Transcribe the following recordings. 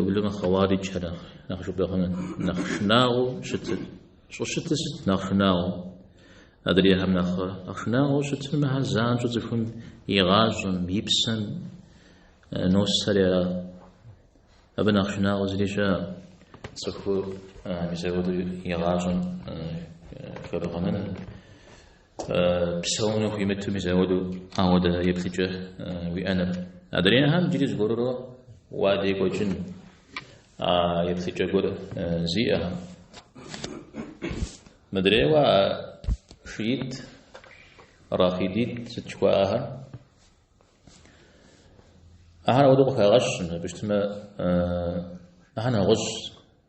Ублымэ Хъэуариджхэр нэхъ жыпӏэхъуныр нэхъ шынагъуэу щытыр. Щӏыщытыр сыт нэхъ шынагъуэу? Адрейхэм нэхъ шынагъуэу щытыр мыхэр занщӏэу цӏыхум и гъащӏэм, и псэм носэр ара. Абы нэхъ шынагъуэ зыри щыӏэ. Цӏыхур мис апхуэдэу и гъащӏэм хэбгъэнэну. Псэуну хуимыту мис ауэдэу ауэдэ еплъыкӏэ уиӏэныр. Адрейхэм джыри зыгуэрурэ уадекӏуэкӏын а еплъыкӏэ гуэр зиӏэхэм. Мыдрейуэ а шиит, рафидит сыт жыхуаӏэхэр? Ахэр ауэдэу къыхагъэщыпэу щытмэ ахэр нэгъуэщӏ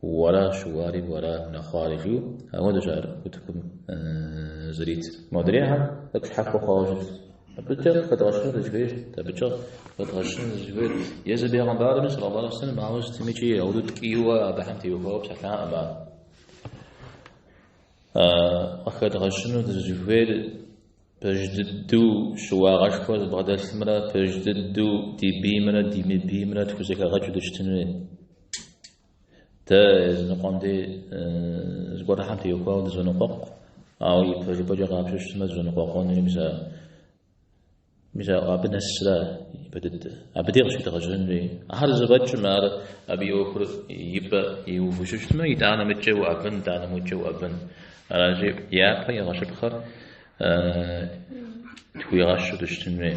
Уэра щыуари, уэра, нэхъуари, жиӏэу ауэдэщ ар утыкум зэритыр. Модрейхэм тӏэкӏу щхьэхуэ хъуауэ щытт. Абыкӏэ къыхэдгъэщын зыщыхуейр, абыкӏэ къыхэдгъэщын зыщыхуейр. Езы Бегъымбарми, саллаллаху алейхи ва сэллям, ауэ сытмикӏи ауэдэу ткӏийуэ абыхэм теухуауэ псэлъакъым ар. Къыхэдгъэщыну дызыщыхуейр пэж дыдэу щыуагъэшхуэ зыбгъэдэлъымрэ пэж дыдэу ди биймрэ ди мыбиймрэ тхузэхэгъэкӏыу дыщытын хуей. Дэ языныкъуэм де зыгуэрхэм теухуауэ дызоныкъуэкъу, ауэ и пэжыпӏэкӏэ къапщтэу щытмэ дызэныкъуэкъунури мис мис абы нэсрэ ипэ дыдэ. Абы де къыщедгъэжьэн хуей. Ахэр зэфӏэкӏмэ, ар абы и ӏуэхур ипэ иувэу щытмэ, итӏанэ мыдкӏэ уӏэбэн, итӏанэ мыдкӏэ уӏэбэн. Аращи, япэ игъэщыпхъэр тхуигъэщу дыщытын хуей.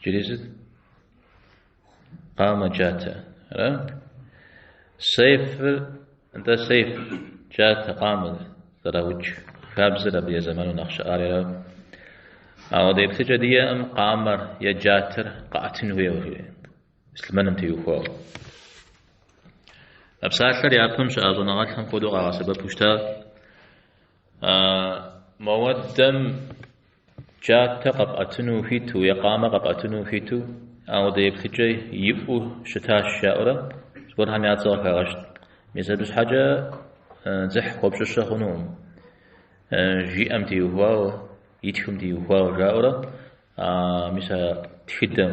Джыри сыт? Къамэ джатэ. Ара? Сейфыр, нтӏэ сейф, джатэ, къамэ зэраукӏ хабзэр абы я зэману нэхъ щыӏар ара. Ауэдэ еплъыкӏэ диӏэкъым къамэр е джатэр къэӏэтын хуейуэ муслъымэным теухуауэ. А псалъэр япэм щыӏа щӏэныгъэлӏхэм хуэдэу къагъэсэбэпу щыта А мыуэдэм джатэ къэпӏэтыну ухуиту, е къамэ къэпӏэтыну ухуиту, ауэдэ еплъыкӏэ иӏэу щытащ жаӏэурэ зыгуэрхэм я цӏэ къыхагъэщт. Мис абы щхьэкӏэ дзыхь хуэпщӏыщэ хъунукъым. Жиӏэм теухуауэ, итхым теухуауэ жаӏэурэ, мис а тхыдэм.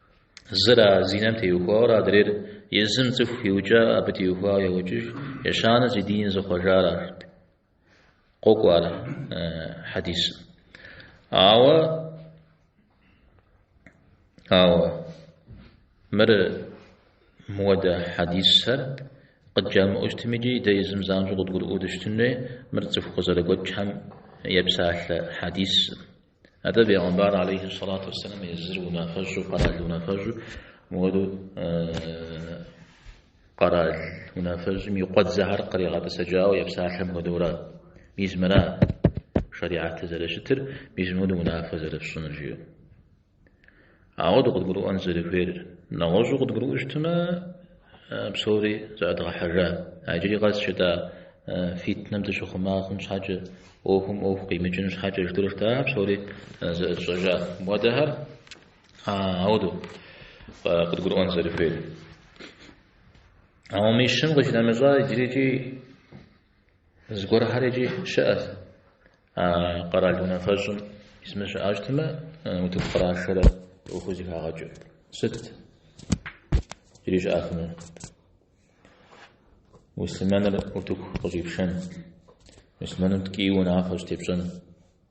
Зыр а зинэм теухуауэ адрейр езым цӏыху иукӏа абы теухуауэ еукӏыж, ещанэ зи дин зыхъуэжар арт. Къокӏуэ ар хьэдисым. Ауэ ауэ мыр мыуэдэ хьэдисхэр къыджамыӏэу щытмикӏи дэ езым занщӏэу къыдгурыӏуэу дыщытын хуей, мыр цӏыху къызэрыгуэкӏхэм епсалъэ хьэдисым. Атӏэ бегъымбар алейхи салату вассалам езыр унафэщӏу къэрал унафэщӏу мыуэду къэрал унафэщӏым и къуэдзэхэр къригъэтӏысэкӏауэ епсалъэм хуэдэурэ мис мыра шэрихьэтыр зэрыщытыр, мис мыуэду унафэ зэрыфщӏыныр жиӏэу. Ауэдэу къыдгурыӏуэн зэрыхуейр. Нэгъуэщӏу къыдгурыӏуэу щытмэ, псори зэӏэдгъэхьэжа. А иджыри къэс жытӏа фитнэм дыщыхъума хъун щхьэкӏэ, ӏуэхум ӏуэху къимыкӏын щхьэкӏэ жытӏэурэ жытӏа псори зэӏэтщӏэжа. Мыхуэдэхэр ауэдэу къыдгурыӏуэн зэрыхуейр. Ауэ мыхэм къищынэмыщӏа иджырикӏи Зыгуэрхэр икӏи щыӏэт. А къэрал унафэщӏ мис мы щыӏэ щытмэ, утыку кърашэрэ ӏуэхур зыхагъэкӏыу. Сыт иджыри щыӏэфынур? Муслъымэныр утыку къыщӏипшэн, муслъымэным ткӏийуэ унафэ щӏытепщӏэн.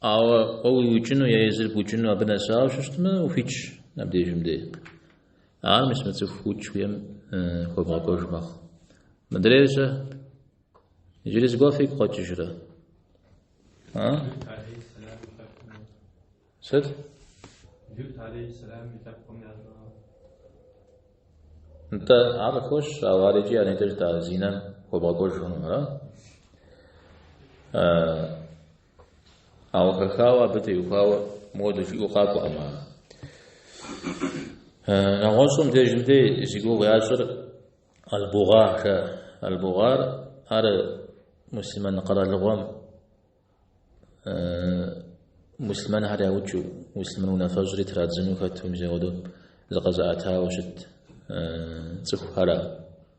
Ауэ къоуэу уиукӏыну е езыр букӏыну абы нэсауэ щытмэ, ухуитщ абдежым дей. Ар мис мы цӏыху укӏ хуейм хуэбгъэкӏуэж мэхъу. Мыдрейр сэ иджыри зыгуэ фигу къэкӏыжрэ. А? Сыт? Лют алейхиссалам и лъэпкъым ящӏа. Нтӏэ ар къыхуэщ, ауэ ар икӏи а нетӏэ жытӏа зинэм хуэбгъэкӏуэж хъунура? Ауэ хэхауэ абы теухуауэ моуэдэу жиӏэу къакӏуэкъым. Нэгъуэщӏым дежым дей зи гугъу ящӏыр албугъархэ. Албугъар ар муслъымэн къэралыгъуэм муслъымэнхэр яукӏыу, муслъымэн унафэщӏри традзыну хэту мис ауэдэу зыкъэзыӏэтауэ щыт цӏыхухэра.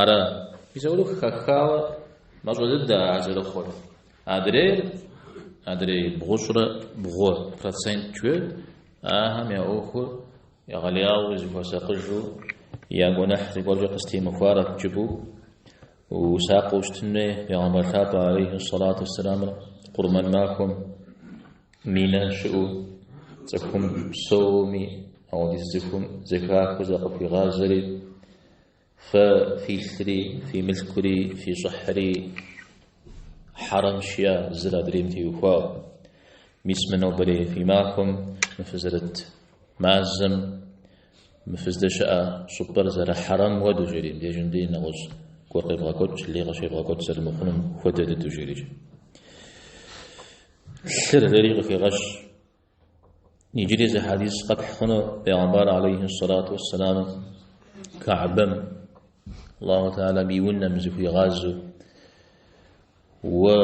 Ара псори хэхауэ мащӏэ дыдэ ар зэрыхъур. Адрейр, адрей бгъущӏрэ бгъу процент жует, ахэм я ӏуэхур егъэлеяуэ зыхуэсакъыжу я гуэныхь зыгуэркӏэ къыстемыхуарэт жыпӏэу усакъыу щытын хуей Пегъэмбар лъапӏэ алейхи салату уссаламыр къурмэн махуэм. Минэ щыӏэу цӏыхум псоми ауэдиз цӏыхум зэхахыу закъыхуигъазэри, Фэ фи лъри, фи мылъкури, фи щӏыхьри хьэрэмщ жиӏа, зыр адрейм теухуауэ. Мис мы нобэрей фи махуэм, мы фызэрыт мазэм, мы фыздэщыӏэ щӏыпӏэр зэрыхьэрэм хуэдэу жери, дежым дей нэгъуэщӏ гуэр къебгъэкӏуэкӏ, лей къыщебгъэкӏуэкӏ зэрымыхъунум хуэдэ дыдэу жери. Лъыр жиӏэри къыхигъэщ. Иджыри зы хьэдис къэпхь хъуну Пейгъэмбар алейхи салату вассаламу Каабэм Аллаху Теала и унэм зыхуигъазу уэ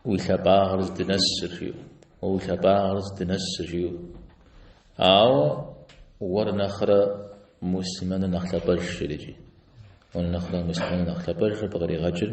уи лъапӏагъыр здынэсыр жиӏэу, уэ уи лъапӏагъыр здынэсыр жиӏэу. Ауэ уэр нэхърэ мусымэныр нэхъ лъапӏэжщ жи. Уэр нэхърэ мусымэныр нэхъ лъапӏэжыр къыкъригъэкӏыр